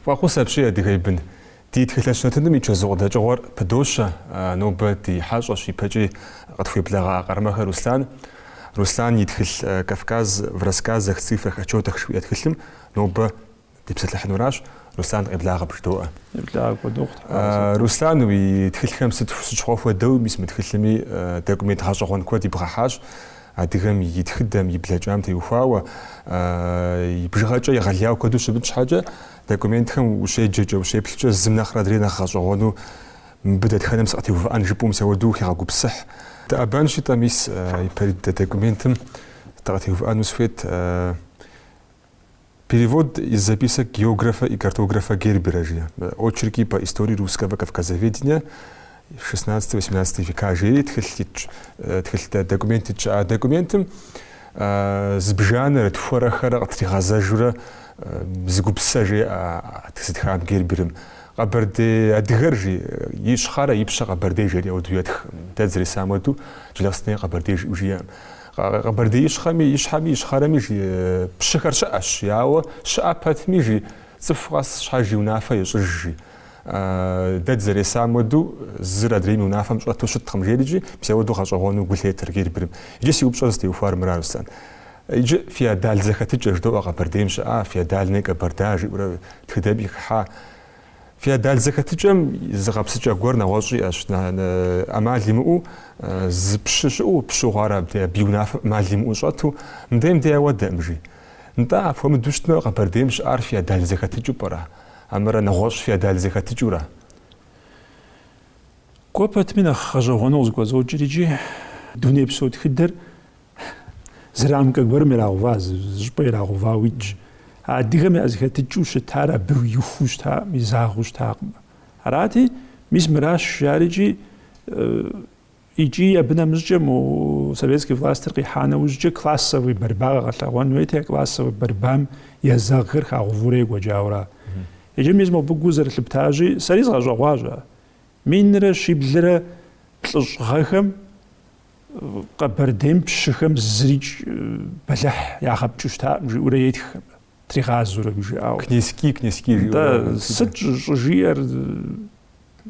Фӏэхъус апщий, адыгэ и бын! Ди тхылъэщ нэтыным и чэзу къыдэкӏыгъуэр пыдощэ нобэ ди хьэщӏэщ ипэкӏи къытхуеблэгъа Къармэхэ Руслан. Руслан и тхылъ Кавказ в рассказах, цифрах, отчетах жыхуиӏэ тхылъым нобэ Дипсэлъыхьынуращ, Руслан къеблагъэ бжыдоӏэ. Еблагъэ апхуэдэу къытхуагъэсэбэп. А, Руслан, уи тхылъхэм сыт щыгъуи хуэдэу, мис мы тхылъми документ гъэщӏэгъуэн куэд ибгъэхьащ, адыгэм и тхыдэм, и блэкӏам теухуауэ, и бжыгъэкӏэ егъэлеяуэ куэду щымыт щхьэкӏэ, документхэм ущеджэкӏэ, ущеплъкӏэ зым нэхърэ адрей нэхъ гъэщӏэгъуэну мыбы дэтхэнэм сыкъытеувыӏэн жыпӏэу мис ауэду ухигъэгупсыхь. Дыӏэбэнщи-тӏэ, мис ипэрыт документым дыкъытеувыӏэну сыхуейт. Перевод из записок географа и картографа Гербера, жи. Очерки по истории русского кавказоведения XVI-XVIII века, жери тхылъ итщ. Тхылъ дэ, документ итщ. А документым зыбжанэрэ тхуэрэ-хэрэ къытригъэзэжурэ зы гупсэ жеӏэ зытхам Герберым. Къэбэрдей адыгэр, жи. Ищхъэрэ ипщэ къэбэрдей жери ауэду етх. Дэ дызэресам уэду, Джылахъстэней къэбэрдей жиӏэу жиӏэм. Къэбэрдей ищхъэми ищхьэми ищхъэрэми жи пщыхэр щыӏэщ, ауэ щыӏэ пэтми жи цӏыху къэс щхьэж и унафэ ещӏыж жи. Дэ дызэресам уэду зыр адрейм и унафэм щӏэту щыткъым жерикӏи, мис ауэду гъэщӏэгъуэну гу лъетэр Герберым. Иджы си упщӏэр зытеухуар мыра, Руслан. Иджы феодал зэхэтыкӏэ жыдоӏэ Къэбэрдейм щыӏа, феодальная Кабарда жиӏэурэ тхыдэми хыхьа. Феодал зэхэтыкӏэм зы гъэпсыкӏэ гуэр нэгъуэщӏ иӏэщ, ӏэмал имыӏэу зы пщы щыӏэу пщыгъуэр абдей, абы и унафэм ӏэмал имыӏэу щӏэту, мыдэм дей ауэдэӏым, жи. Нтӏэ, апхуэмыдэу щытмэ, Къэбэрдейм щыӏар феодал зэхэтыкӏыу пӏэрэ? Хьэмэрэ нэгъуэщӏ феодал зэхэтыкӏыу ара? Кӏуэ пэтми нэхъ гъэщӏэгъуэну зыхуэзокӏыр икӏи, дунейпсо тхыдэр Зы рамкэ гуэрым ирагъэува, зы щӏыпӏэ ирагъэувауэ итщ. Адыгэм я зэхэтыкӏыу щытар абы ихуу щытакъым, изагъэу щытакъым. Арати, мис мыращ жиӏарикӏи, икӏи абы нэмыщӏкӏэ мо советский властыр къихьа нэужькӏэ классовый борьба къэгъэлъэгъуэн хуейти, классовый борьбам езэгъхэр хагъэувурэ екӏуэкӏауэ ара. Иджы мис мобы гу зэрылъыптащи, сэри згъэщӏэгъуащ ар. Минрэ щиблрэ плӏыщӏ гъэхэм Къэбэрдейм пщыхэм зырикӏ бэлыхь ягъэпкӏыу щытакъым, жиӏэурэ етх абы, тригъазурэ мы жиӏауэ. Князьки, князьки жиӏэурэ. Да, сыт щӏыжиӏэр,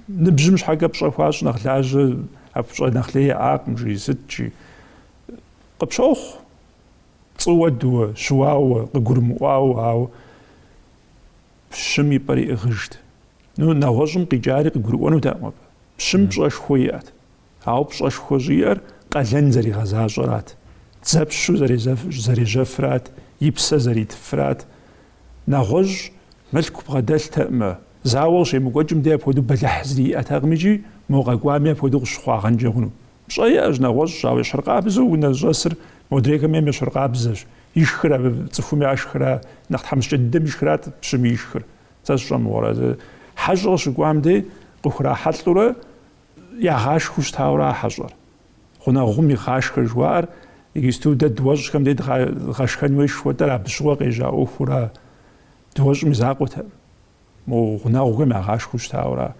ныбжьым щхьэкӏэ пщӏэ хуащӏ нэхъ лажьэ, абы пщӏэ нэхъ лей яӏакъым, жи, сыт, жи. Къыпщохъу, цӏыуэ дыуэ, щыуауэ, къыгурымыӏуауэ, ауэ пщым и пӏэр иӏыгъыжт. Ну, нэгъуэщӏым къикӏари къыгурыӏуэнутэкъым абы. Пщым пщӏэшхуэ иӏэт. Ауэ пщӏэшхуэ щӏиӏэр къалэн зэригъэзащӏэрат, дзэпщу зэрежьэфрат, и псэ зэритфрат. Нэгъуэщӏ мылъку бгъэдэлътэкъымэ, зауэ къыщемыкӏуэкӏым дей апхуэдэу бэлыхь зыри иӏэтэкъым икӏи, мо къэкӏуами апхуэдэу къыщыхъуагъэнкӏэ хъуну? Пщӏэ иӏэщ нэгъуэщӏ, ауэ ещхьыркъабзэу унэ зыщӏэсыр модрейхэм ейм ещхьыркъабзэщ. Ишхыр абы цӏыхум яшхра, нэхъ тхьэмыщкӏэ дыдэм ишхрат пщым ишхыр. Сэ сщӏэмыгъуэрэ, хьэщӏэ къыщыкӏуам дей къыхурахьэлӏэурэ Ягъашхэу щытауэрэ а хьэщӏэр. Гъунэгъум игъашхэ жыхуаӏэр иджысту дэ дыуэщӏхэм дей дгъэшхэн хуейщ жыхуэтӏэр абы щыгъуэ къежьа ӏуэхура дыуэщӏым и закъуэтэкъым. Мо гъунэгъухэм ягъашхэу щытауэра.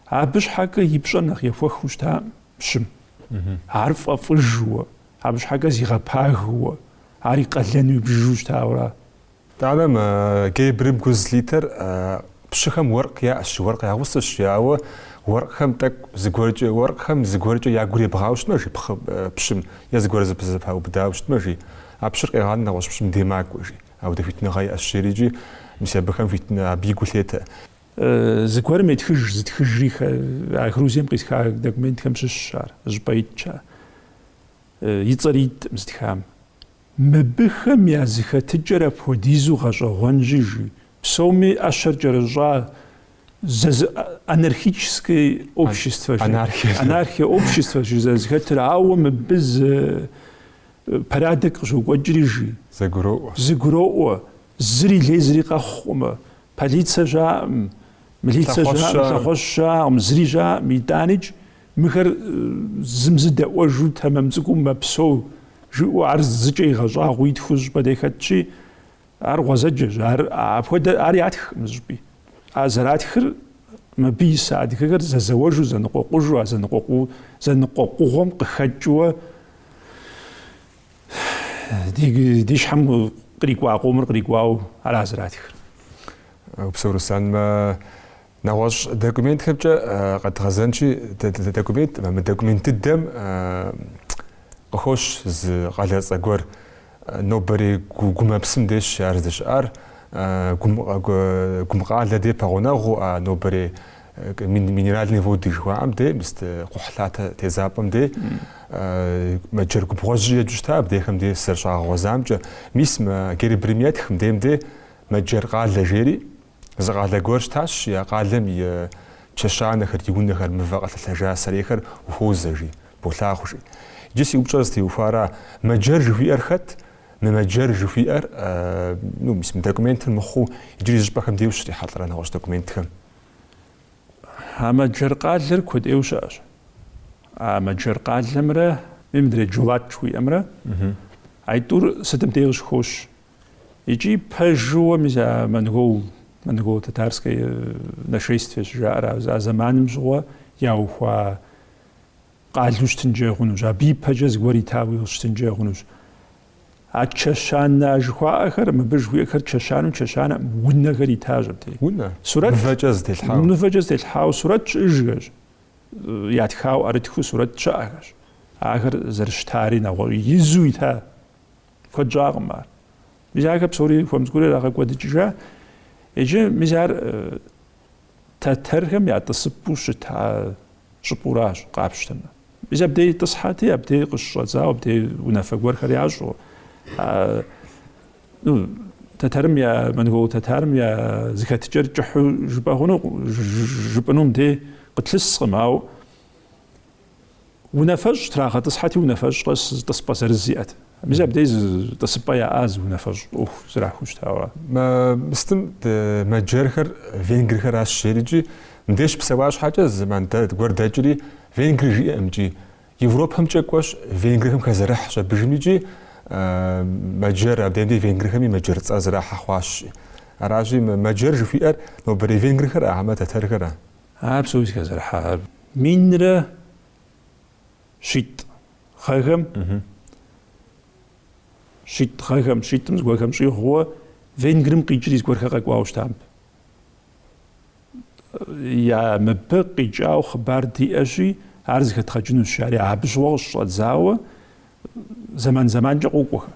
Абы щхьэкӏэ и пщӏэр нэхъ ехуэхыу щытакъым пщым. Ар фӏэфӏыжуэ, абы щхьэкӏэ зигъэпагыуэ, ар и къалэну ибжыжу щытауэра. Итӏанэ мы Герберым гу зылъитэр пщыхэм уэркъ яӏэщ, уэркъ я гъусэщ, ауэ уэркъхэм тӏэкӏу зыгуэркӏэ, уэркъхэм зыгуэркӏэ я гур ебгъауэ щытмэ, жи пхъы, пщым, е зыгуэр зэпэзэпаубыдауэ щытмэ, жи, а пщыр къегъанэ нэгъуэщӏ пщым дей макӏуэ, жи, апхуэдэ хуитыныгъэ иӏэщ, жери, икӏи мис абыхэм хуитыну абы гу лъетэ. Зыгуэрым етхыж, зытхыжри, а Грузием къисха документхэм щыщщ ар, зыщӏыпӏэ итщ ар, и цӏэри иткъым зытхам. Мыбыхэм я зэхэтыкӏэр апхуэдизу гъэщӏэгъуэнщи жи, псоми ӏэщэр кӏэрыщӏа анархическое общество, анархия обществощ зэрызэхэтыр, ауэ мыбы зы порядок къыщокӏуэкӏри жи, зэгуроӏуэ, зыри лей зыри къэхъукъымэ, полицэ щаӏым, милицэ щаӏым, лъэхъуэщ щаӏым, зыри щаӏым, итӏаныкӏ Мыхэр зым зы дэӏуэжу тэмэм цӏыкӏуу мэпсэу, жиӏэу ар зыкӏэ игъэщӏагъуэу итхыу зы щӏыпӏэ дей хэтщи, ар гъуэзэджэщ, ар апхуэдэ, ар ятхкъым зыщӏыпӏи. А зэратхыр мыбы иса адыгэхэр зэзэуэжу, зэныкъуэкъужу, а зэныкъуэкъу, зэныкъуэкъугъуэм къыхэкӏыуэ ди, ди щхьэм кърикӏуа къомыр кърикӏуау ара зэратхыр. Упсэу, Руслан, мэ Нэгъуэщӏ документхэмкӏэ къэдгъэзэнщи, документ, мы документ дыдэм къыхощ зы къалэцӏэ гуэр. Нобэрей Гумыпсым дейщ ар здэщыӏар. Гумкъалэ дей пэгъунэгъуу а нобэрей Минеральные Воды жыхуаӏэм дей, мыст кхъухьлъатэ тедзапӏэм дей, мэджэр губгъуэжькӏи еджу щыта абдейхэм дей сызэрыщагъэгъуэзамкӏэ. Мис мы Герберым етхым дейм дей мэджэр къалэ жери, Зы къалэ гуэр щытащ, я къалэм и чэщанэхэр, ди унэхэр мывэ къэлъэлъэжа сэрейхэр ухуозэ, жи, болъагъу, жи. Иджы си упщӏэр зытеухуара, мэджэр жыхуиӏэр хэт? Мы мэджэр жыхуиӏэр, ну, мис мы документыр мыхъуу, иджыри зы щӏыпӏэхэм дей ущрихьэлӏэрэ нэгъуэщӏ документхэм? А мэджэр къалэр куэд ӏейуэ щыӏэщ. А мэджэр къалэмрэ, мыдрей Джулат жыхуиӏэмрэ, аитӏур сытым дей къыщыхощ, Икӏи пэжууэ мис а монгол, монголо-татарское э, нашествие щыжаӏэр а зэманым щыгъуэ яухуа къалу щытынкӏэ хъунущ, абы ипэкӏэ зыгуэр итауи щытынкӏэ хъунущ. А чэщанэ а жыхуаӏэхэр, мыбы жыхуиӏэхэр чэщанэм чэщанэ унэхэр итащ абдей. Унэ? Сурэт? Мывэкӏэ зэтелъхьау. Мывэкӏэ зэтелъхьау сурэт щыӏэжхэщ. Ятхау ӏэрытхыу сурэт щыӏэхэщ. Ахэр зэрыщытари нэгъуэщӏ изу ита Куэд щӏакъым ар. Мис ахэр псори хуэм цӏыкӏуурэ ирагъэкӏуэдыкӏыжа. Иджы мис ар тэтэрхэм я тӏысыпӏэу щыта щӏыпӏэуращ, къапщтэмэ. Мис абдей тӏысхьэти, абдей къыщыщӏэдзауэ, абдей унафэ гуэрхэр ящӏу. Ну, тэтэрым я монгол тэтарым я зэхэтыкӏэр кӏыхьу жыпӏэ хъуну жыпӏынум дей къытлъыскъым, ау Унафэщӏ трагъэтӏысхьэти, унафэщӏ къэс тӏысыпӏэ зырыз иӏэт. Мис абдей зы тӏысыпӏэ яӏа зы унафэ щызэрахьу щытауэ. Мыстым мэджэрхэр венгрхэращ жери икӏи мыбдей щыпсэуа щхьэкӏэ зэман гуэр дэкӏри венгри жиӏэм икӏи Европэмкӏэ кӏуэщ венгрхэм хэзэрыхь щӏэбыжым икӏи мэджэр абдеем дей венгрхэми мэджэр цӏэ зэрахьэ хъуащ. Аращи мэджэр жыхуиӏэр нобэрей венгрхэра хьэмэ тэтэрхэра? Ар псори зэхэзэрыхьар минрэ щитӏ гъэхэм, щитӏ гъэхэм, щитӏым зыгуэрхэм щӏигъуу Венгрым къикӏри зыгуэрхэр къэкӏуауэ щытам. Я мыбы къикӏау хъыбар диӏэщи, ар зэхэдгъэкӏынущ, ари абы щыгъуэ къыщыщӏэдзауэ зэман-зэманкӏэ къокӏуэхэ.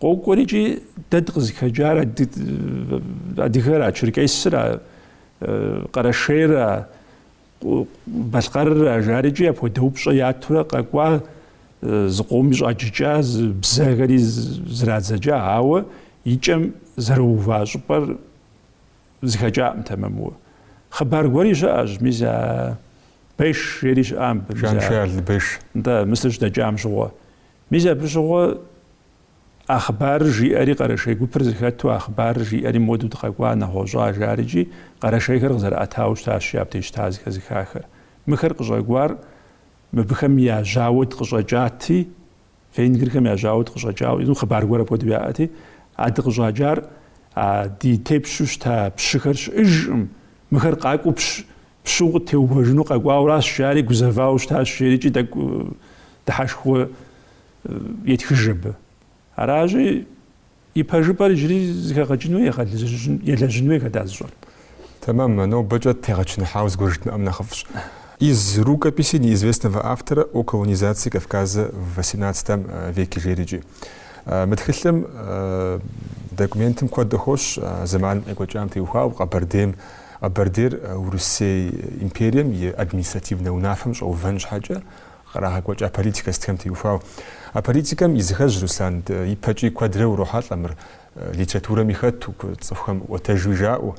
Къокӏуэри икӏи дэ дыкъызыхэкӏар адыгэра, черкесра, къэрэшейра, балъкъэрра жари икӏи апхуэдэ упщӏэ ятурэ къэкӏуа зы къоми щӏаджыкӏа зы бзэхэри зрадзэкӏа, ауэ икӏэм зэрыува щӏыпӏэр зыхэкӏакъым тэмэмуэ. Хъыбар гуэри щыӏэщ, мис а Беш жери щыӏам. Жан-Шарль Беш. Да, мысыр щыдэкӏам щыгъуэ. Мис абы щыгъуэ а хъыбарыр жиӏэри къэрэшей гупыр зыхэту а хъыбарыр жиӏэри модэу дыкъэкӏуа, нэгъуэщӏа, жари икӏи къэрэшейхэр къызэрыӏэтауэ щытащи абдеж щыта зыхэзыхахэр. Мыхэр къыщӏэкӏуар мыбыхэм я жьауэ дыкъыщӏэкӏати, венгрхэм я жьауэ дыкъыщӏэкӏауэ, езым хъыбар гуэр апхуэдэу яӏэти, а дыкъыщӏэкӏар а ди тепщу щыта пщыхэр щыӏыжкъым, мыхэр къакӏуэу пщ Пщу къыттеувэжыну къэкӏуауращ, жари гузэвауэ щытащ, жери кӏи тӏэкӏу дыхьэшхуэ етхыж абы. Аращи, и пэжыпӏэр иджыри зыхэгъэкӏыну елэжьын хуей, хэт ар зыщӏэр. Тэмэм, нобэкӏэ тегъэчыныхьауэ зыгуэр жыдмыӏэм нэхъыфӏщ. Из рукописи неизвестного автора о колонизации Кавказа в восемнадцатом веке жери кӏи. Мы тхылъым документым куэд къыхощ, зэманым къекӏуэкӏам теухуауэ Къэбэрдейм, Къэбэрдейр Урысей империем и административнэ унафэм щӏэувэн щхьэкӏэ кърагъэкӏуэкӏа политикэ сытхэм теухуауэ. А политикэм и зы ӏыхьэщ Руслан ипэкӏи куэдрэ урохьэлӏэ мыр литературэми хэту, цӏыхухэм ӏуэтэжуи жаӏэу.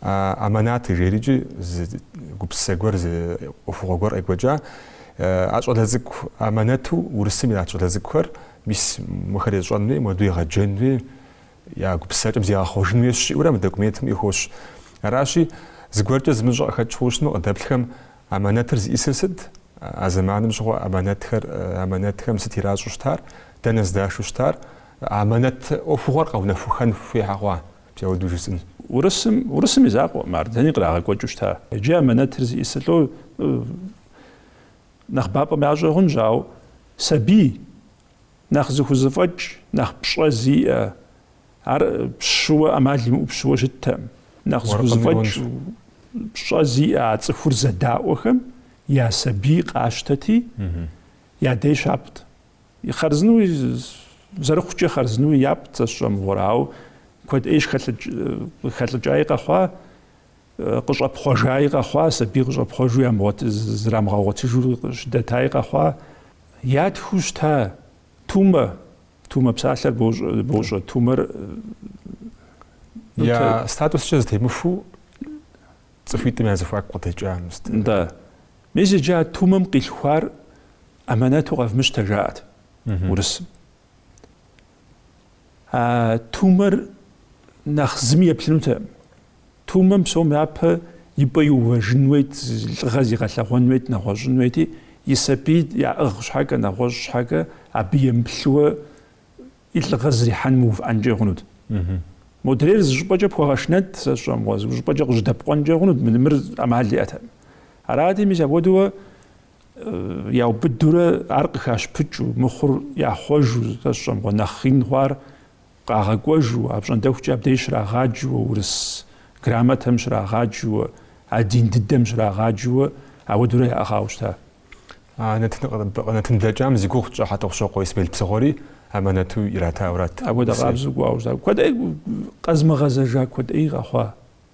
А аманат жери кӏи зы гупсысэ гуэр, зы ӏуэхугъуэ гуэр къекӏуэкӏа. А щӏалэ цӏыкӏу Аманэту Урысым ират щӏалэ цӏыкӏухэр, мис мыхэр ещӏэн хуей, муэду егъэджэн хуей, Я гупсысэкӏэм зигъэхъуэжын хуейщ жиӏэурэ мы документым къыхощ. Аращи, зыгуэркӏэ зымыщӏэ къыхэкӏ хъужыну, къыдэплъхэм амэнэтыр зиӏысыр сыт, а зэманым щыгъуэ амэнэтхэр, амэнэтхэм сыт иращӏу щытар, дэнэ здашу щытар, амэнэт ӏуэхугъуэр къэунэхухэн хуей щхьэ хъуа, мис апхуэду жысӏын. Урысым, урысым и закъуэкъым ар, дэни кърагъэкӏуэкӏыу щыта. Иджы амэнэтыр зиӏысыр, лӏо, нэхъыбапӏэм ящӏэ хъунщ, ауэ сабий. Нэхъ зыхузэфӏэкӏ, нэхъ пщӏэ зиӏэ, ар пщыуэ ӏэмал имыӏэу пщыуэ щыттэкъым. Нэхъ зыхузэфӏэкӏ, пщӏэ зиӏэ а цӏыхур зэдаӏуэхэм я сабий къащтэти, я дей щапӏт. Хъарзынэуи, зэрыхъукӏэ хъарзынэуи япӏт, сэ сщӏэ мыгъуэрэ, ауэ куэд ӏей щыхэлӏыкӏаи къэхъуа, къыщӏэпхъуэжаи къэхъуа, сабий къыщӏэпхъуэжу зрамыгъэгъуэтыжу щыдэтаи къэхъуа, ятхыу щыта Тумэ, Тумэ псалъэр бощӏэ, Тумэр я статускӏэ зытемыхуэ цӏыхуитӏым я зэхуаку къыдэкӏа. Да. Мис иджы а Тумэм къилъхуар аманэту къэвмыщтэ жаӏэт урысым. А Тумэр нэхъ зыми еплъынутэкъым. Тумэм псом япэ и пӏэ иувэжын уейт, лӏыгъэ зигъэлъэгъуэн уейт, нэгъуэщӏын уейти, и сабий яӏыгъ щхьэкӏэ, нэгъуэщӏ щхьэкӏэ, абы емыплъыуэ и лӏыгъэ зрихьэным мыувыӏэнкӏэ хъунут. Модрейр зы щӏыпӏэкӏэ пхуэгъэшынэт, сэ сщӏэмыгъуэ, зы щӏыпӏэкӏэ къыжьэдэпкъуэнкӏэ хъунут, мыр ӏэмал иӏэтэкъым. Арати, мис апхуэдэуэ яубыдурэ ар къыхащыпыкӏыу, мыхъур яхъуэжу, сэ сщӏэмыгъуэ, нэхъ ин хъуар Къагъэкӏуэжу, апщӏондэхукӏэ абдеж щрагъаджэуэ, урыс грамотэм щрагъаджэуэ, а дин дыдэм щрагъаджэуэ, ауэдурэ яӏыгъауэ щыта. А нэтын блэкӏам зи гугъу тщӏа Хьэтӏохъущокъуэ Исмел Псыгъуэри аманэту иратауэрат. Апхуэдэ къабзэу кӏуауэ щыта. Куэд ӏей къэзмыгъэзэжа, куэд ӏей къэхъуа.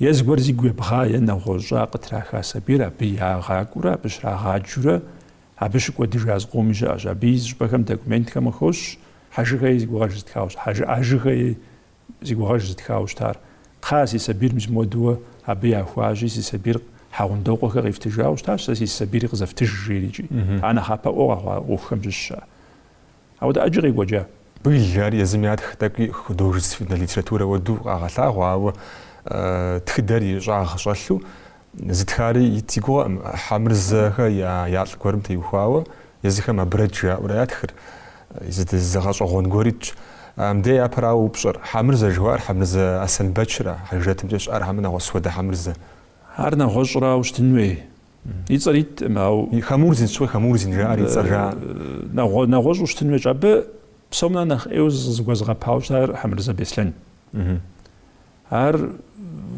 Е зыгуэр зигу ебгъа, е нэгъуэщӏа къытраха сабийр абы ягъакӏуэурэ, абы щрагъаджэурэ, абы щыкӏуэдыжа зыкъоми щыӏэщ. Абы и зы щӏыпӏэхэм документхэм къыхощ Хьэжыгэи зи гугъэж зытхауэ щытар. Хьэжы, Хьэжыгэи зи гугъэж зытхауэ щытар. Кхъа, си сабийр мис мыуэдэуэ абы яхуащи, си сабийр Хьэгъундокъуэхэ къифтыжауэ щытащ, сэ си сабийри къызэфтыж, жери икӏи. Ар нэхъапэӏуэу къэхъуа ӏуэхухэм щыщщ ар. Ауэдэ ӏэджи къекӏуэкӏа? Быль, ар езым ятх, тӏэкӏуи художественнэ литературэ уэду къагъэлъагъуэ, ауэ тхыдэр и щӏагъ щӏэлъу зытхари ит си гугъэкъым, Хьэмырзэхэ я лӏы гуэрым теухуауэ, езыхэм Абрэдж жаӏэурэ ятхыр, зы, зы гъэщӏэгъуэн гуэр итщ. Мыдэ япэрауэ упщӏэр, Хьэмырзэ жыхуаӏэр Хьэмырзэ Аслъэнбэчра, Хьэжрэтымкӏэ щыӏэр хьэмэ нэгъуэщӏ хуэдэ Хьэмырзэ? Ар нэгъуэщӏрауэ щытын хуей? И цӏэр иткъым, ау. Хамурзин щӏы, Хамурзин жаӏэр и цӏэр жаӏэ. Нэгъуэ, нэгъуэщӏу щытын хуейщ, абы псом нэхъ нэхъ ӏейуэ зыгуэзыгъэпауэ щытар Хьэмырзэ Беслъэн. Ар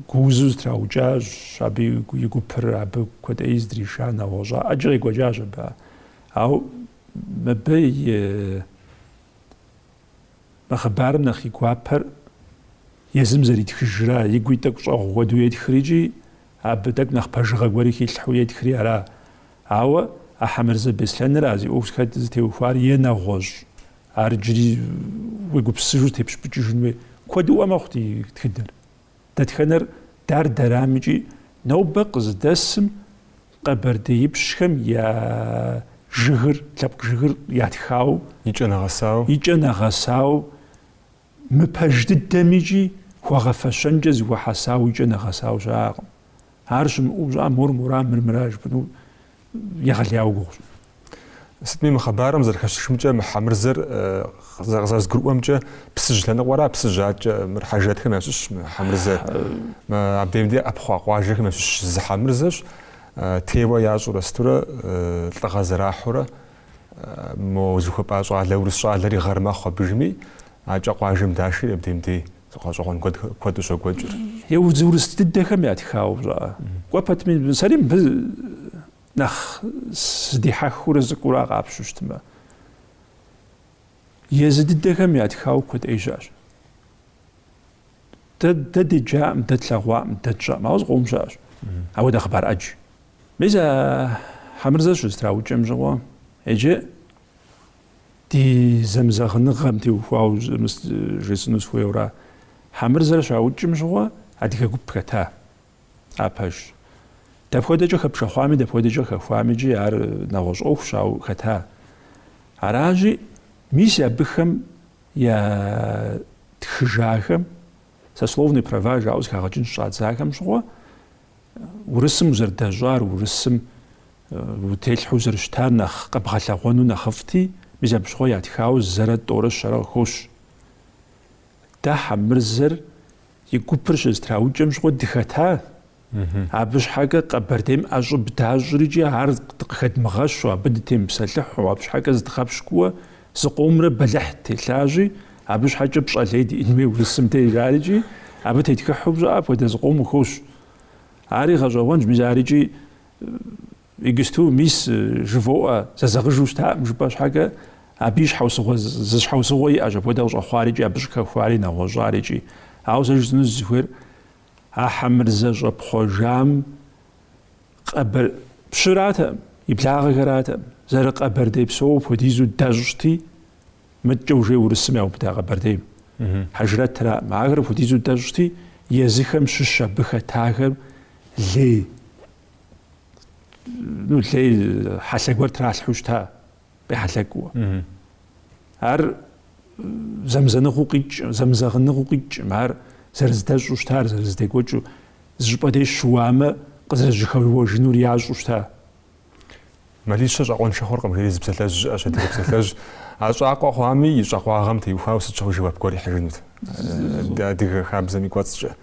гуузу зытраукӏащ, абы и гупыр абы куэд ӏей здриша, нэгъуэщӏа, ӏэджи къекӏуэкӏащ абы. Ау мыбы и Мы хъыбарым нэхъ и гуапэр езым зэритхыжра, и гуи тӏэкӏу щӏэгъу хуэдэу етхри икӏи абы тӏэкӏу нэхъ пэжыгъэ гуэри хилъхьэу етхри ара? Ауэ а Хьэмырзэ Беслъэныра зи ӏуэху зыхэт зытеухуар е нэгъуэщӏ, ар иджыри уегупсысыжу тепщыпыкӏыжын хуей. Куэдыӏуэ мэхъу ди тхыдэр. Дэтхэнэр дэр дэрамыкӏи, нобэ къызыдэсым къэбэрдеипщхэм я жыгыр, лъэпкъ жыгыр ятхауэ, и кӏэ нэгъэсауэ, мы пэж дыдэм икӏи хуэгъэфэщэнкӏэ зыхуэхьэсауэ и кӏэ нэгъэсауэ щыӏакъым. Ар щымыӏэу пщӏа мор мора, мыр мыра жыпӏэну егъэлеяуэ гугъущ. Сытми мы хъыбарым зэрыхэщышымкӏэ мы Хьэмырзэр къызэрызгурыӏуэмкӏэ Псыжь лъэныкъуэра, Псыжь аткӏэ мыр хьэжрэтхэм ящыщщ мы Хьэмырзэ. Абдеим де ӏэпхъуа къуажэхэм ящыщ зы Хьэмырзэщ, теуэ ящӏурэ сытурэ лӏыгъэ зэрахьурэ мо зыхуэпӏа щӏалэ, урыс щӏалэри гъэр мэхъу абыжми, аткӏэ къуажэм дашэри абдеим дей. Гъэщӏэгъуэн куэду щокӏуэкӏыр. Езы урыс дыдэхэм ятхауэ пщӏа? Кӏуэ пэтми, сэри мыбы нэхъ сыдихьэхыурэ сыкӏуэура, къапщтэу щытмэ. Езы дыдэхэм ятхауэ куэдӏей щыӏэщ. Дэ деджаӏым, дэ тлъэгъуаӏым, дэ тщӏэӏым, ауэ зыкъом щыӏэщ. Ауэдэ хъыбар ӏэдж. Мис а Хьэмырзэ щызэтраукӏэм щыгъуэ, иджы Ди зэмызэгъыныгъэм теухуауэ мис жесӏэну сыхуейуэра, Хьэмырзэр щаукӏым щыгъуэ адыгэ гуп хэта. Ар пэжщ. Дапхуэдэкӏэ хэпшэхъуами, дапхуэдэкӏэ хэхуами икӏи ар нэгъуэщӏ ӏуэхущ, ауэ хэта. Аращи, мис абыхэм ятхыжахэм, сословные права жаӏэу зыхагъэкӏын щӏадзахэм щыгъуэ, Урысым узэрыдэщӏар, урысым утелъхьэу узэрыщытар нэхъ къэбгъэлъэгъуэну нэхъыфӏти, мис абы щыгъуэ ятхауэ зэрэ тӏорэ щэрэ къыхощ. Дэ Хьэмырзэр и гупыр щызэтраукӏэм щыгъуэ дыхэта, абы щхьэкӏэ Къэбэрдейм ӏэщӏыб дащӏрикӏи ар къыхэдмыгъэщу, абы дытемыпсэлъыхьу, абы щхьэкӏэ зыдгъэпщкӏууэ Зыкъомрэ бэлыхь ттелъащи, абы щхьэкӏэ пщӏэ лей диӏэн хуей урысым дей жарикӏи, абы тетхыхьу щыӏа апхуэдэ зыкъому хощ. Ари гъэщӏэгъуэнщ, мис арикӏи иджысту мис жывоӏэ зэзэгъыжу щытаӏым жыпӏэ щхьэкӏэ, абы и щхьэусыгъуэ зы щхьэусыгъуэ иӏэщ апхуэдэ къыщӏэхъуарикӏи, абы щыхэхуари нэгъуэщӏарикӏи. Ауэ сэ жысӏэну сызыхуейр, а Хьэмырзэ щӏэпхъуэжам Къэбэр... Пщыратэкъым, и благъэхэратэкъым. Зэрыкъэбэрдей псоуэ апхуэдизу дэщӏти, мыткӏэ уже урысым яубыда Къэбэрдейм. Хьэжрэтракъым. Ахэр апхуэдизу дэщӏти, езыхэм щыщ абы хэтахэм лей, ну, лей хьэлъэ гуэр тралъхьу щыта. къехьэлъэкӏыу. Ар зэмызэныгъэу къикӏ, зэмызэгъыныгъэу къикӏым, ар зэрыздэщӏу щыта, ар зэрыздекӏуэкӏыу, зы щӏыпӏэ деж щыуамэ, къызэрыжьэхэуэжынур ящӏу щыта. Мэлищэ щӏакъуэншэ хъуркъым, жери зы псалъэжь щыӏэщ, адыгэ псалъэжь. А щӏакъуэ хъуами, и щӏакъуагъэм теухуауэ сыт щыгъуи жэуап гуэр ихьыжынут адыгэ хабзэм и кӏуэцӏкӏэ.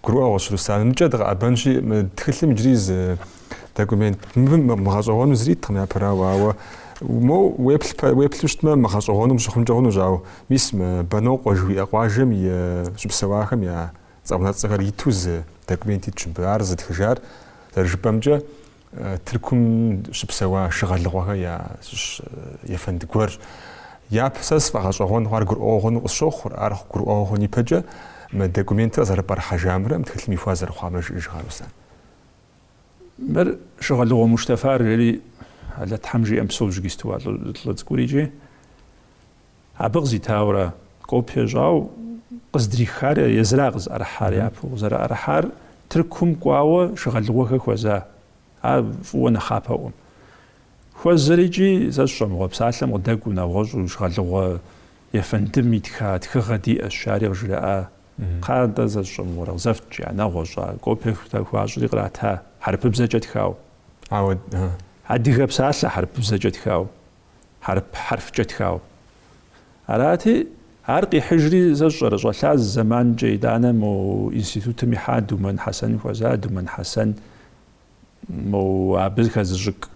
Гурыӏуэгъуэщ Руслан. Мыкӏэ дыкъэӏэбэнщи, мы тхылъым иджыри зы документ. Мыбы мыгъэщӏэгъуэну зыри иткъым япэрауэ, ауэ мо уеплъ, уеплъу щытмэ, мыгъэщӏэгъуэну пщыхъункӏэ хъунущ, ауэ мис мы Бэнокъуэ жыхуиӏэ къуажэм щыпсэуахэм я цӏэунэцӏэхэр иту зы документ итщ мыбы. Ар зытхыжар, зэрыжыпӏэмкӏэ, Тыркум щыпсэуа Шыгъэлыгъуэхэ ящыщ ефэнд гуэрщ. Япэ сэ сфӏэгъэщӏэгъуэн хъуар гурыӏуэгъуэну къысщохъур, ар гурыӏуэгъуэ хъун ипэкӏэ мы документыр къызэрыпӏэрыхьэжамрэ мы тхылъым ихуа зэрыхъуамрэ, жыӏэж кхъа, Руслан. Мыр Шыгъэлыгъуэ Муштафар, жери Алэ Тхьэм жиӏэм псо жыгистыуа лӏы цӏыкӏур икӏи абы къызитауэрэ копие щӏау къыздрихар езыра къызыӏэрыхьар япэу, къызэрыӏэрыхьар Тыркум кӏуауэ Шыгъэлыгъуэхэ хуэза, ар фӏыуэ нэхъапэӏуэм. Хуэзэр икӏи сэ сщӏэмыгъуэ псалъэм къыдэкӏуэу нэгъуэщӏу Шыгъэлыгъуэ ефэндым итха тхыгъэ диӏэщ, ари къыжраӏа Кхъа, нтӏэ, сэ сщӏэмыгъуэрэ, къызэфт, жиӏа нэгъуэщӏа, копие хуащӏри кърата, хьэрыпыбзэкӏэ тхау. Ауэ, ы-ы. Адыгэ псалъэ хьэрыпыбзэкӏэ тхау, хьэрып хьэрфкӏэ тхау. Арати, ар къихьыжри, сэ сщӏэрэ, щӏэлъа зы зэманкӏэ итӏанэ мо институтым ихьа Думэн Хьэсэн хуэза, Думэн Хьэсэн мо абы хэзыщӏык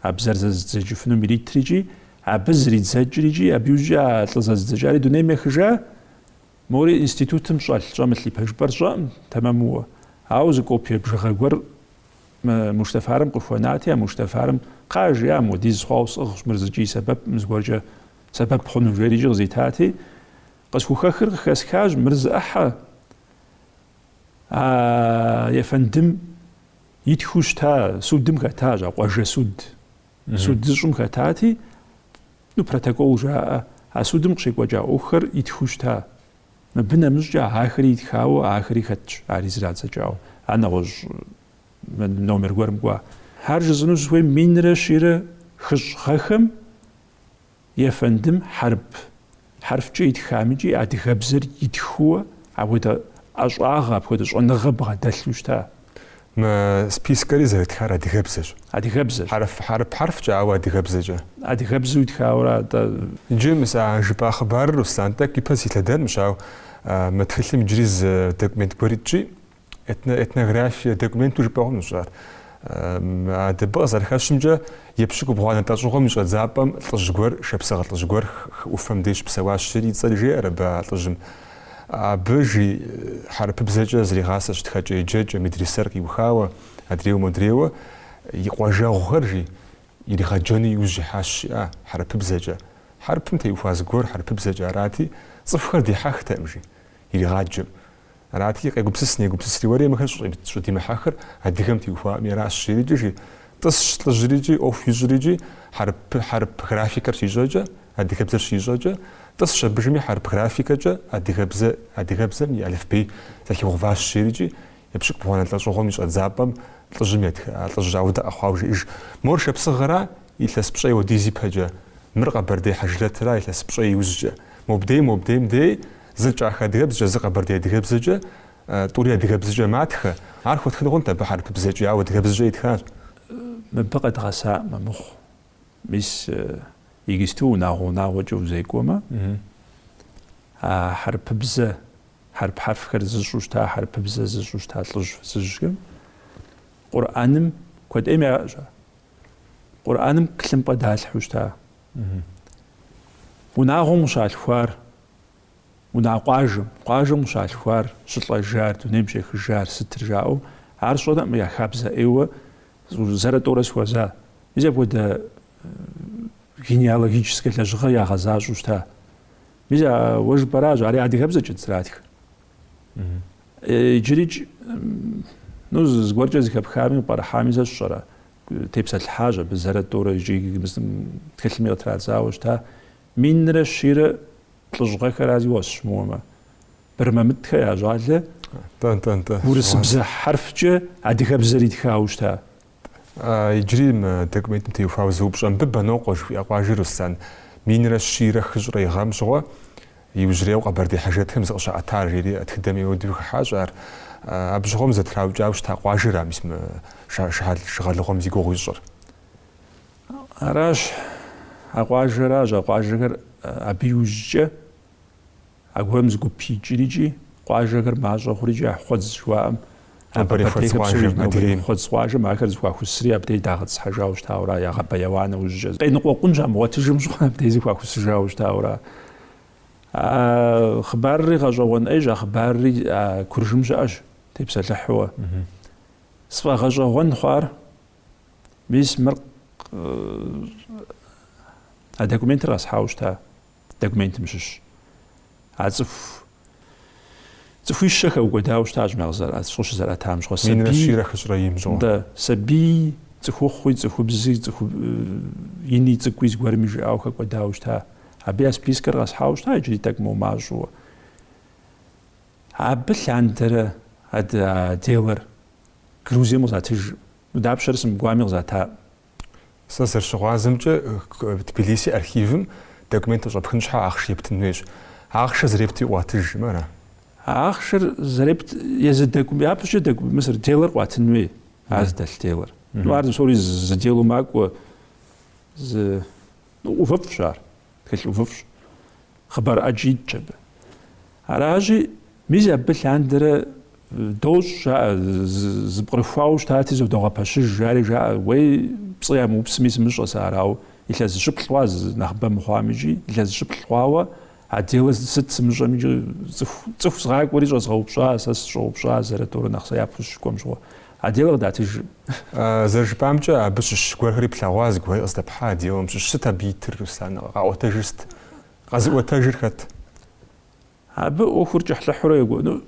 а бзэр зэзыдзэкӏыфынум иритри икӏи абы зридзэкӏри икӏи абы иужькӏэ а лӏы зэзыдзэкӏари дунейм ехыжа, Мори институтым щӏэлъ щӏэмылъ и пэжыпӏэр сщӏэкъым тэмэмууэ. Ауэ зы копие бжыгъэ гуэр мы Муштафарым къыхуэнати, а Муштафарым, Кхъа, жиӏа, модиз хъуауэ сӏыгъщ, мыр зыкӏи сэбэпкъым, зыгуэркӏэ сэбэп хъуну, жери икӏи къызитати, къысхухэхыр къыхэсхащ, мыр зы ӏыхьэ, а ефэндым итхыу щыта судым хэтащ, а къуажэ суд. Суд зыщӏым хэтати, ну, протокол жаӏэ, а судым къыщекӏуэкӏа ӏуэхухэр итхыу щыта. Мыбы нэмыщӏкӏэ ахэри итхауэ, ахэри хэтщ, ари зрадзэкӏауэ, ар нэгъуэщӏ номер гуэрым кӏуа. Ар жысӏэну сыхуейм минрэ щийрэ хыщӏ гъэхэм Ефэндым хьэрып хьэрфкӏэ итхам икӏи адыгэбзэр итхыуэ апхуэдэ ӏэщӏагъэ, апхуэдэ щӏэныгъэ бгъэдэлъу щыта? Мы спискэри зэрытхар адыгэбзэщ. Адыгэбзэщ. Хьэрыф хьэрып хьэрфкӏэ, ауэ адыгэбзэкӏэ. Адыгэбзэу итхауэрэ атӏэ? Иджы мы сэ а жыпӏа хъыбарыр, Руслан, тӏэкӏу ипэ силъэдэнущ, ауэ мы тхылъым иджыри зы документ гуэр итщи, Этнографие документу жыпӏэ хъунущ ар. Абы къызэрыхэщымкӏэ, епщыкӏубгъуанэ лӏэщӏыгъуэм и щӏэдзапӏэм лӏыжь гуэр, шапсыгъэ лӏыжь гуэр хы ӏуфэм деж псэуащ, жери, и цӏэри жеӏэр абы а лӏыжьым. Абы жи хьэрыпыбзэкӏэ зригъасэщ тхэкӏэ-еджэкӏэ, медрисэр къиухауэ, адрейуэ-модрейуэ и къуажэгъухэр, жи, иригъэджэну иужь ихьащ, жиӏа, хьэрыпыбзэкӏэ. Хьэрыпым теухуа зыгуэр хьэрыпыбзэкӏэ арати, цӏыхухэр дихьэхтэкъым, жи, иригъаджэм. Арати, къегупсыс, негупсысри уэри мыхэр щӏыдимыхьэхыр адыгэм теухуаӏэми аращ, жери икӏи жи. Тӏысщ лӏыжьри икӏи, ӏуэху ищӏри икӏи, хьэрып, хьэрып графикэр щищӏэкӏэ, адыгэбзэр щищӏэкӏэ, тӏысщ абыжми хьэрып графикэкӏэ адыгэбзэ, адыгэбзэм и алыфбей зэхигъэуващ, жери икӏи, епщыкӏубгъуанэ лӏэщӏыгъуэм и щӏэдзапӏэм лӏыжьым етха, а лӏыжь ауэдэ къэхъуауэ жиӏэж, Мор шапсыгъэра, илъэс пщӏей уэдиз ипэкӏэ, мыр къэбэрдей хьэжрэтра, илъэс пщӏей иужькӏэ, мобдей, мобдейм дей, Зыр кӏахэ адыгэбзэкӏэ, зыр къэбэрдей адыгэбзэкӏэ, тӏури адыгэбзэкӏэ матхэ. Ар хуэтхын хъунт абы хьэрыпыбзэкӏи, ауэ адыгэбзэкӏэ итхащ. Мыбы къэдгъэсаӏым амыхъу. Мис иджысту унагъуэ-унагъуэкӏэ узекӏуэмэ, а хьэрыпыбзэ, хьэрып хьэрфхэр зыщӏу щыта хьэрыпыбзэ, зыщӏу щыта лӏыжь фызыжьхэм Къурӏэным куэд ӏейм яӏэщ ар. Къурӏэным тхылъымпӏэ далъхьэу щыта. Унагъуэм къыщалъхуар Унагъуэ къуажэм, къуажэм къыщалъхуар, щылӏэжар, дунейм щехыжар сытыр жаӏэу, ар сщӏэрэкъым я хабзэ ӏейуэ зэрэ-тӏэурэ схуэза. Мис апхуэдэ генеалогическая лэжьыгъэ ягъэзащӏэу щыта. Мис а уэ жыпӏэращ, ари адыгэбзэкӏэт зэратхыр. Иджырикӏ, ну, зыгуэркӏэ зыхэпхами, къыпӏэрыхьами сэ сщӏэрэ, тепсэлъыхьащ абы зэрэ-тӏэурэ икӏи тхылъми къытрадзауэ щыта. Минрэ щийрэ плӏыщӏ гъэхэра, зиуэ, сыщымыуэмэ. Бырмэмытхэ я щӏалэ урысыбзэ хьэрфкӏэ адыгэбзэр итхауэ щыта? Иджыри мы документым теухуауэ зы упщӏэ мыбы Бэнокъуэ жыхуиӏэ къуажэр Руслан Минрэ щийрэ хыщӏрэ и гъэм щыгъуэ иужьрейуэ къэбэрдей хьэжрэтхэм зыкъыщаӏэтар, жери тхыдэм ауэдэу хыхьащ ар. Абы щыгъуэм зэтраукӏауэ щыта къуажэра мис мы шыгъэлыгъуэм зи гугъу ищӏыр? Аращ а къуажэращ а къуажэхэр абы иужькӏэ аргуэрым зы гуп икӏри икӏи къуажэхэр мащӏэ хъури икӏи а Хъуэдз жыхуаӏэм нобэрей Хъуэдз къуажэм ахэр зыхуахусри абдей дагъэтӏысхьэжауэ щытауэра ягъэбэяуа нэужькӏэ къеныкъуэкъун щамыгъуэтыжым щыгъуэ абдей зыхуахусыжауэ щытауэра а хъыбарри гъэщӏэгъуэн ӏейщ а хъыбарри а куржым щыӏэщ тепсэлъыхьуэ сфӏэгъэщӏэгъуэн хъуар Мис мыр а документыр къэсхьауэ щыта документым щыщ. А цӏыху цӏыхуищэ хэкӏуэдауэ щытащ мэ къызэрыӏэ цӏыщӏ щызэрыӏэтам щыгъуэ сабий. Минрэ щийрэ хыщӏрэ им щыгъуэ. Да, сабий цӏыхухъуи, цӏыхубзи, цӏыху ини цӏыкӏуи зыгуэрми жиӏауэ хэкӏуэдауэ щыта. Абы я спискэр къэсхьауэ щыта иджыри тӏэкӏу мымащӏэуэ. Абы лъандэрэ а делэр Грузием къызатыжым, дапщэрэ сымыкӏуами къызата? Сэ зэрыщыгъуазэмкӏэ, Тбилиси архивым документыр щӏэпхын щхьэ ахъшэ ептын хуейщ. Ахъшэр зэрепти къуатыжым ара? Ахъшэр зэрепт езы докум, япэщӏыкӏэ докум, мис а делэр къуатын хуей, ар зыдэлъ делэр. Ну ар зы псори зы делу макӏуэ, зы, ну, ӏувыфӏщ ар. тхылъ ӏувыфӏщ, хъыбар ӏэджи итщ абы. Аращи, мис абы лъандэрэ дощӏ, жаӏэ, зыпкърыхуауэ щытати, зыдогъэпэщыж, жари жаӏэ, уей пцӏы ямыупсми сымыщӏэ сэ арау, илъэс щыплӏ хъуа нэхъыбэ мыхъуамикӏи, илъэс щыплӏ хъуауэ, а делэ сыт сымыщӏамикӏи, цӏыху, цӏыху згъакӏуэри щӏэзгъэупщӏа, сэ сыщӏэупщӏа, зэрыторэ нэхъ сэ япхущ щыкӏуэм щыгъуэ. А делэр къыдатыжыркъым. Зэрыжыпӏамкӏэ, абы щыщ гуэрхэри плъэгъуа зыгуэри къыздэпхьа а делэм щыщ. Сыт абы итыр, Руслан? Къаӏуэтэжыр сыт? Къэзыӏуэтэжыр хэт? Абы ӏуэхур кӏыхьлӏыхьурэ екӏуэну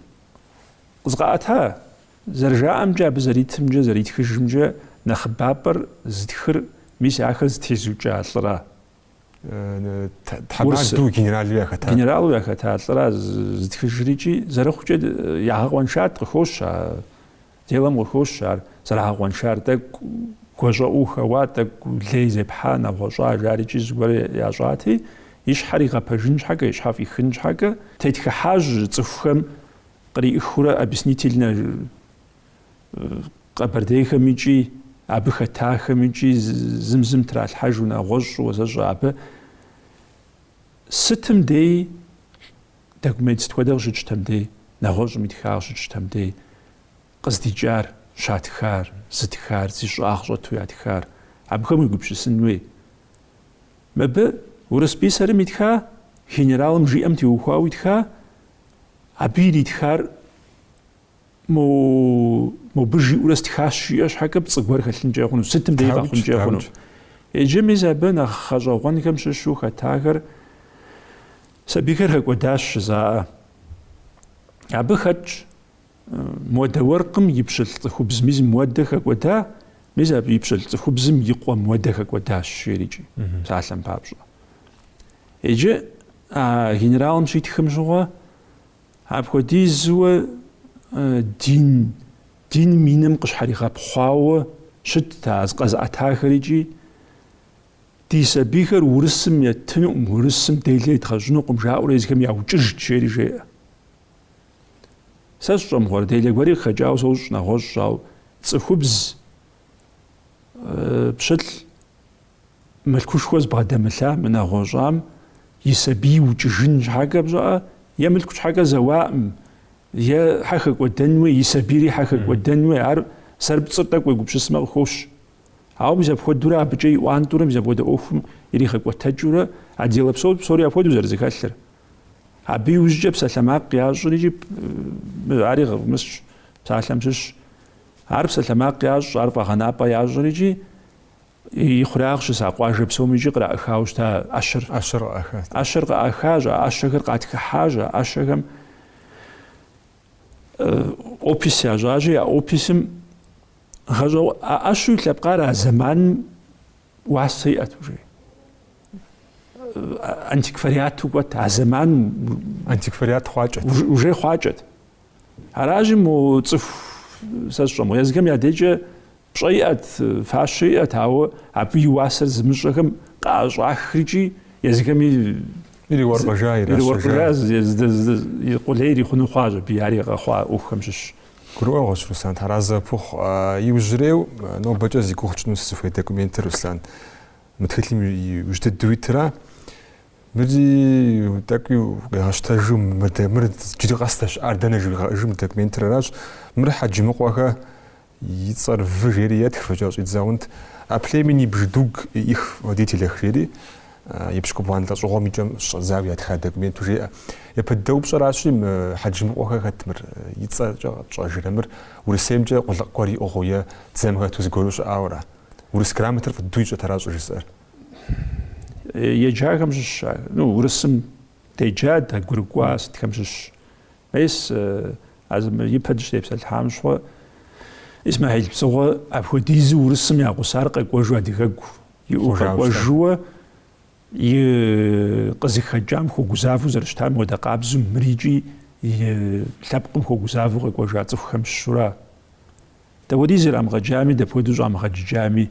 къызкъаӏэта? Зэрыжаӏэмкӏэ, абы зэритымкӏэ, зэритхыжымкӏэ, нэхъыбапӏэр зытхыр, мис ахэр зэтезыукӏа лӏыра? Тхьэмаду генералу яхэта. Генералу яхэта лӏыра зытхыжрикӏи, зэрыхъукӏэ ягъэкъуэншат, къыхощ а делэм къыхощ ар зэрагъэкъуэншар, тӏэкӏу гуащӏэӏуу хэуа, тӏэкӏу лей зепхьа, нэгъуэщӏа жарикӏи зыгуэру ящӏати, и щхьэр игъэпэжын щхьэкӏэ, и щхьэ фӏихын щхьэкӏэ, тетхыхьащ цӏыхухэм къриӏыхыурэ объяснительнэ Къэбэрдейхэмикӏи абы хэтахэмикӏи зым зым тралъхьэжу нэгъуэщӏ щӏыуэ зэщӏэ абы. Сытым дей документ сыт хуэдэ къыщытщтэм дей, нэгъуэщӏым итха къыщытщтэм дей, къыздикӏар, щатхар, зытхар, зи щӏагъ щӏэту ятхар, абыхэм уегупсысын хуей. Мыбы урыс писарым итха, генералым жиӏэм теухуауэ итха, абы иритхар Мобы жиӏэурэ стхащ жиӏэ щхьэкӏэ пцӏы гуэр хэлъынкӏэ хъуну, сытым дей къэхъункӏэ хъуну. Иджы мис абы нэхъ гъэщӏэгъуэнхэм щыщу хэтахэр сабийхэр хэкӏуэдащ жызоӏэ. Абы хэтщ муэдэ уэркъым и пщылӏ цӏыхубз мис муэдэ хэкӏуэда, мис абы и пщылӏ цӏыхубзым и къуэ муэдэ хэкӏуэдащ, жерикӏи, псалъэм папщӏэ. Иджы а генералым щитхым щыгъуэ Апхуэдизуэ дин, диным и нэм къыщхьэригъэпхъуауэ щытт а зыкъэзыӏэтахэр икӏи ди сабийхэр урысым еттынукъым, урысым делэ едгъэщӏынукъым жаӏэурэ езыхэм яукӏыжт жери жеӏэ. Сэ сщӏэ мыгъуэрэ, делэ гуэри къыхэкӏауэ сощӏ нэгъуэщӏ, ау цӏыхубз пщылӏ Мылъкушхуэ зыбгъэдэмылъам, нэгъуэщӏам и сабий укӏыжын щхьэкӏэ пщӏэ иӏэ, е мылъку щхьэкӏэ зэуаӏым, е хьэ хэкӏуэдэн хуей, и сабийри хьэ хэкӏуэдэн хуей, ар зэрыпцӏыр тӏэкӏу уегупсысмэ къыхощ. Ауэ мис апхуэдэурэ абыкӏэ иӏуантӏурэ мис апхуэдэ ӏуэхум иригъэкӏуэтэкӏыурэ а делэ псо псори апхуэдэу зэрызэхэлъыр. Абы иужькӏэ псалъэмакъ ящӏыр икӏи ари гъыгъмысщ, псалъэм щыщщ. Ар псалъэмакъ ящӏ, ар фӏэгъэнапӏэ ящӏыр икӏи И хъурагъ щыса къуажэ псом икӏи къраӏыхауэ щыта ӏэщэр. ӏэщэр къыӏахащ, а ӏэщэхэр къатхыхьащ, а ӏэщэхэм опис ящӏащи, а описым гъэщӏэгъу а ӏэщу и лъэпкъар а зэманым уасэ иӏэт уже. Антиквариату кӏуэт, а зэманым антиквариат хъуакӏэт. Уже хъуакӏэт. Аращи, мо цӏыху сэ сщӏэ мыгъуэ, езыхэм я дежкӏэ Пщӏэ иӏэт, фащэ иӏэт, ауэ абы и уасэр зымыщӏэхэм къаӏэщӏахри икӏи, езыхэми ириуэркъыжа, иращэжа, къулей ирихъуну хъуащ, абы ари къэхъуа ӏуэхухэм щыщщ. Гурыӏуэгъуэщ, Руслан, Тхьэразэ къыпхухъу. Иужьрейу нобэкӏэ зи гугъу тщӏыну сызыхуей документыр, Руслан, мы тхылъым иужь дыдэу итра, мыри тӏэкӏуи укъигъэщтэжу, мыр иджыри къэс здэщыӏар дэнэ жыуигъэӏыжу мы документыр аращ, мыр Хьэджымыкъуэхэ, и цӏэр вы жери етх, фыкӏэ щӏидзагъэнт, о племени бжедуг и их водителях жери, епщыкӏубгъуанэ лӏэщӏыгъуэм и кӏэм щӏэдзауэ ятха документу жеӏэ. Япэ дыдэ упщӏэращи, мы Хьэджымыкъуэхэр хэт мыр, и цӏэкӏэ къэтщӏэжрэ мыр, Урысеймкӏэ къулыкъ гуэр иӏыгъыу е дзэм хэту зыгуэру щыӏауэра? Урыс грамотэр фӏыду ищӏэт, ара щӏыжысӏэр? Еджахэм щыщщ ар. Ну, Урысым деджа, дэгъуэгурыкӏуа сытхэм щыщщ. Мес, а зы мы ипэ дыщытепсэлъхьам щыгъуэ, Исмахьил Псыгъуэ апхуэдизу урысым я гъусар къэкӏуэжу адыгэгу иӏэу къэкӏуэжууэ и къызыхэкӏам хуэгузавэу зэрыщытам хуэдэ къабзу мыр икӏи и лъэпкъым хуэгузавэу къэкӏуэжа цӏыхухэм щыщура? Дапхуэдиз ирамыгъэджами, дапхуэдэу щӏамыгъэджыкӏами,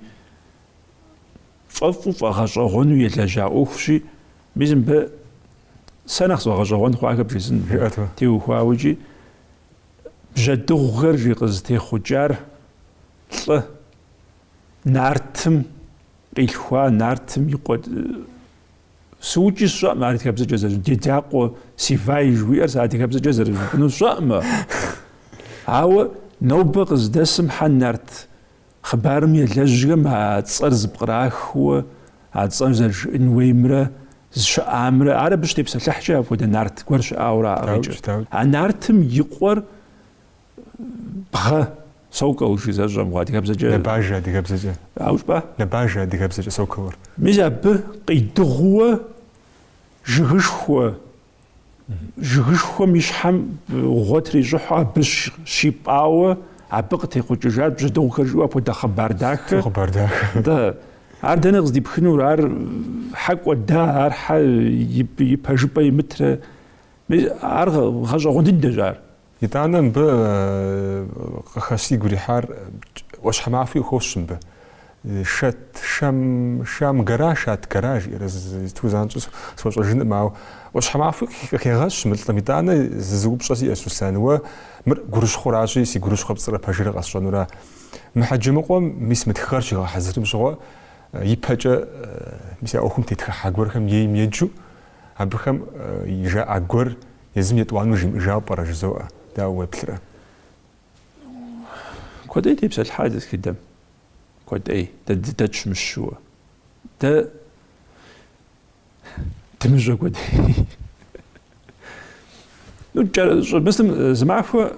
фӏэфӏу фӏэгъэщӏэгъуэну елэжьа ӏуэхущи, мис мыбы сэ нэхъ сфӏэгъэщӏэгъуэн хъуахэр бжесӏэн. Теухуауэ икӏи бжьэдыгъухэр жи къызытехъукӏар лӏы, нартым къилъхуа, нартым и къуэ. Сыукӏи сщӏэӏым ар адыгэбзэкӏэ зэрыжь, Дедякъуэ Севай жыхуиӏэр сэ адыгэбзэкӏэ зэрыжыпӏэну сщӏэӏымэ. Ауэ нобэ къыздэсым хьэ нарт Хъыбарым елэжьхэм а цӏэр зэпкърахыу, а цӏэр зэрыжыӏын уеймрэ зыщыӏамрэ, ар абы щытепсэлъыхькӏэ апхуэдэ нарт гуэр щыӏауэрэ яӏыгъ икӏи а нартым и къуэр бгъэ, сокол жи, сщӏэӏым, адыгэбзэкӏэ. Нэбажэ адыгэбзэкӏэ. Ауэ щӏыпӏэ? Нэбажэ адыгэбзэкӏэ соколыр. Мис абы къидыгъууэ жыгышхуэ. Жыгышхуэм и щхьэм гъуэ трищӏыхьу абы щипӏауэ абы къытехъукӏыжат бжьэдыгъухэр жиӏэу апхуэдэ хъыбар дахэ. Хъыбар дахэ. Да. Ар дэнэ къыздипхынур, ар хьэ кӏуэда, ар хьэ и пэжыпӏэ имытрэ. Ар гъэщӏэгъуэн дыдэщ ар. Итӏанэ мыбы къыхэ сигу ирихьар ӏуащхьэмахуи къыхощ мыбы. Шат, Шам гора, Шат гора жиӏэрэ сыту занщӏэу схуэщӏэжынӏым, ауэ ӏуащхьэмахуи къыхегъэщ мы лӏым. Итӏанэ зы зы упщӏэ сиӏэщ, Руслан, уэ мыр гурыщхъуращи, си гурыщхъуэр пцӏырэ пэжырэ къэсщӏэнура? Мы Хьэджэмыкъуэм мис мы тхыгъэр щигъэхьэзырым щыгъуэ, ипэкӏэ мис а ӏуэхум тетхыхьа гуэрхэм ейм еджэу, абыхэм жаӏа гуэр Езым етӏуанэу жимыӏыжауэ пӏэрэ жызоӏэ, дауэ уеплърэ? Куэдӏей тепсэлъыхьа ди тхыдэм, куэдӏей, дэ дыдэтщ мыщ щыуэ. Дэ дымыщӏэ куэдӏей. Ну, щӏыбысым зымахуэ,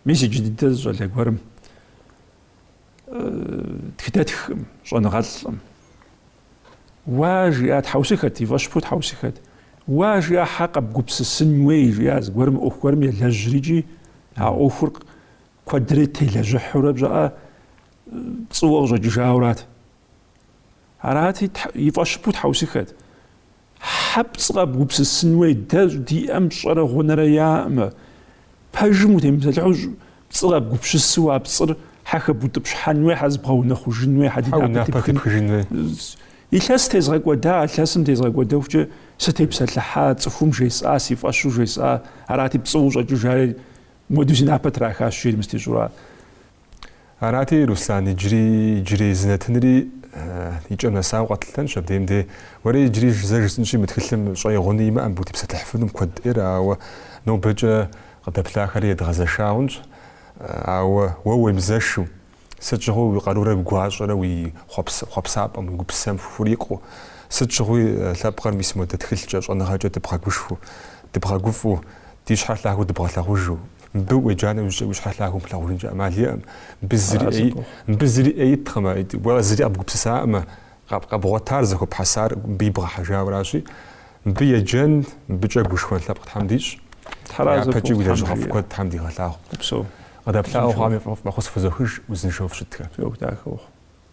мис иджы дыдэ зы щӏалэ гуэрым тхыдэтхкъым, щӏэныгъэлӏкъым. Уа, жиӏа, тхьэусыхэт, и фӏэщыпу тхьэусыхэт. Уа, жиӏа, хьэ къэбгупсысын уей, жиӏа зыгуэрым мы ӏуэху гуэрым елэжьри икӏи а ӏуэхур куэдрэ телэжьыхьурэ пщӏыӏэ пцӏыуэ къыщӏэкӏыжаурат. Арати, и фӏэщыпу тхьэусыхэт. Хьэ пцӏы къэбгупсысын уей дэ диӏэм щӏэрэ гъунэрэ яӏэӏым, пэжым утемыпсэлъыхьу пцӏы къэбгупщысу а пцӏыр хьэ хэбутӏыпщхьэн уей, хьэ зыбгъэунэхъужын уей, хьэ ди напэ тепхын уей. Илъэс тезгъэкӏуэда, илъэсым тезгъэкӏуэдэхукӏэ сытепсэлъыхьа, цӏыхум жесӏа, си фӏэщу жесӏа, арати пцӏыуэ къыщӏэкӏыжари, мыуэду си напэ трахащ, жери мыстищӏура. Арати, Руслан, иджыри иджырей зы нэтынри икӏэм нэсауэ къэтлъытэнщ, абдеим де. Уэри иджыри зэ жысӏынщи, мы тхылъым щӏэи гъуни имыӏэм, утепсэлъыхьыфынум куэд ӏейр, ауэ нобэкӏэ къыдэплъахэри едгъэзэша хъунщ. Ауэ уэ уемызэшу, сыт щыгъуи уи къарурэ уи гуащӏэрэ уи хъуэпсапӏэм, уи гупсэм хурикъуу, сыт щыгъуи лъэпкъыр мис модэ тхылъкӏэ, щӏэныгъэкӏэ дыбгъэгушхуэу, дыбгъэгуфӏэу, ди щхьэр лъагэу дыбгъэлъагъужу. Мыбы уеджа нэужькӏэ уи щхьэ лъагэу плъагъужынкӏэ ӏэмал иӏэкъым. Мыбы зыри ӏей, мыбы зыри ӏей иткъымэ, уэ зыри къэбгупсысакъымэ, къэбгъуэтар, зэхуэпхьэсар мыбы ибгъэхьэжауэращи. Мыбы еджэн, мыбыкӏэ гушхуэн лъэпкъ Тхьэм дищӏ. Япэкӏи уи лэжьыгъэфӏ куэд Тхьэм дигъэлъагъу. Къыдэплъауэ хъуам фӏэхъус фхузохыж, узыншэу фыщытхэ. Фи ӏуэху дахэ ухъу.